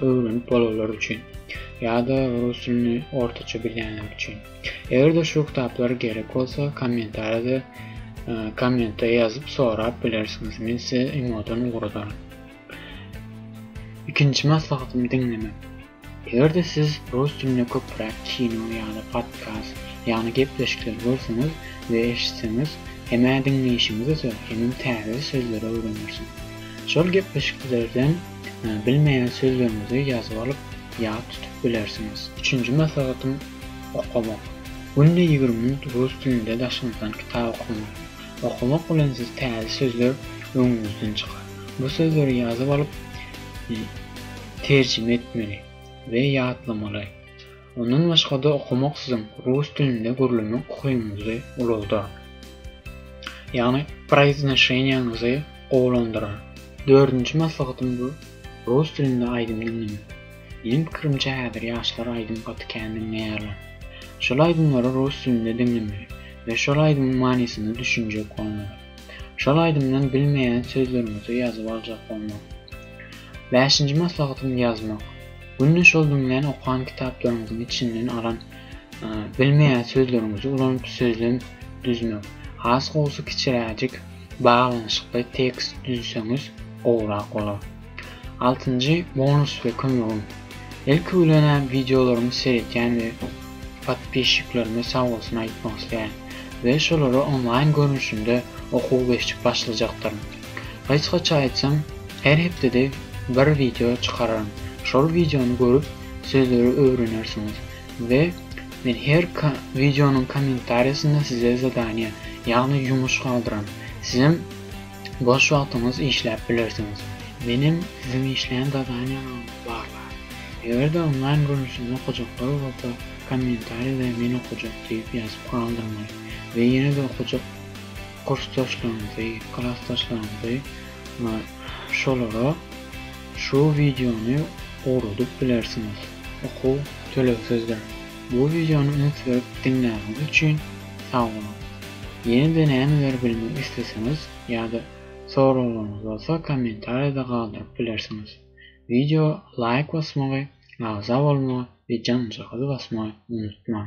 öwrenip bolanlar üçin ýa-da rus dilini ortaça bilýänler üçin. Eger-de şu kitaplar gerek bolsa, kommentariýada e, kommentde ýazyp sorap bilersiňiz. Men size imodan ugradaryn. Ikinji maslahatym diňlemek. Eger-de siz rus dilinde köpräk kino ýa-da podkast, ýagny gepleşikleri görseňiz we eşitseňiz, hem-ä diňleýşiňiz öser, hem-ä täze sözleri öwrenersiňiz. Şol gepleşiklerden Bilmeýän sözleriňizi ýazyp alyp, ýat tutup bilersiňiz. Üçünji maslahatym, okamak. Günde ýigrimi minut rus dilinde daşyňyzdan kitap okamak. Okamak bilen siz täze sözler öňüňizden çykar. Bu sözleri ýazyp alyp, terjime etmeli we ýatlamaly. Ondan başga-da okamak siziň rus dilinde gürlemek ukyňyzy ulaldyar. Ýagny proiznoşeniýaňyzy gowulandyrar. Dördünji maslahatym bu, rus dilinde aýdym diňlemek. Meniň pikirimçe häzir ýaşlar aýdym gaty kän diňleýärler. Şol aýdymlary rus dilinde diňlemeli we şol aýdymyň manysyna düşünjek bolmaly. Şol aýdymdan bilmeýän sözleriňizi ýazyp aljak bolmaly. Bäşinji maslahatym ýazmak. Günde şol diňlän, okan kitaplaryňyzyň içinden alan bilmeýän sözleriňizi ulanyp sözlem düzmek. Has gowusy kiçiräjik, baglanyşykly tekst düzseňiz gowrak bolar. Altynjy bonus we kömegim. Ilki bilen-ä wideolarymy seretýän we podpisçiklerime sagbolsun aýtmak isleýän we şolary onlaýn görnüşinde okuw geçip başlajakdyryn. Gysgaça aýtsam, her hepdede bir wideo çykararyn. Şol wideony görüp, sözleri öwrenersiňiz we men her wideonyň kommentariýasynda size zadaniýa, ýagny ýumuş galdyran. Sizem boş wagtyňyz işläp bilersiňiz. Menem siziň işlän zadaniýalaryňyzy barlaýyn. Eger-de onlaýn görnüşinde okajaklar bolsa, kommentariýada men okajak diýip ýazyp galdyrmaýyn we ýene-de okajak. kursdaşlaryňyzy, klasdaşlaryňyzy we şolara şu wideony ugradyp bilersiňiz. Okuw tölegsizdir. Bu wideony üns berip diňläniňiz üçin sag boluň. Ýene-de nämeler bilmek isleseňiz ýa-da soraglaryňyz bolsa kommentariýada galdyryp bilersiňiz. Wideoa laýk basmagy, agza bolmagy we janjagazy basmagy unutmaň.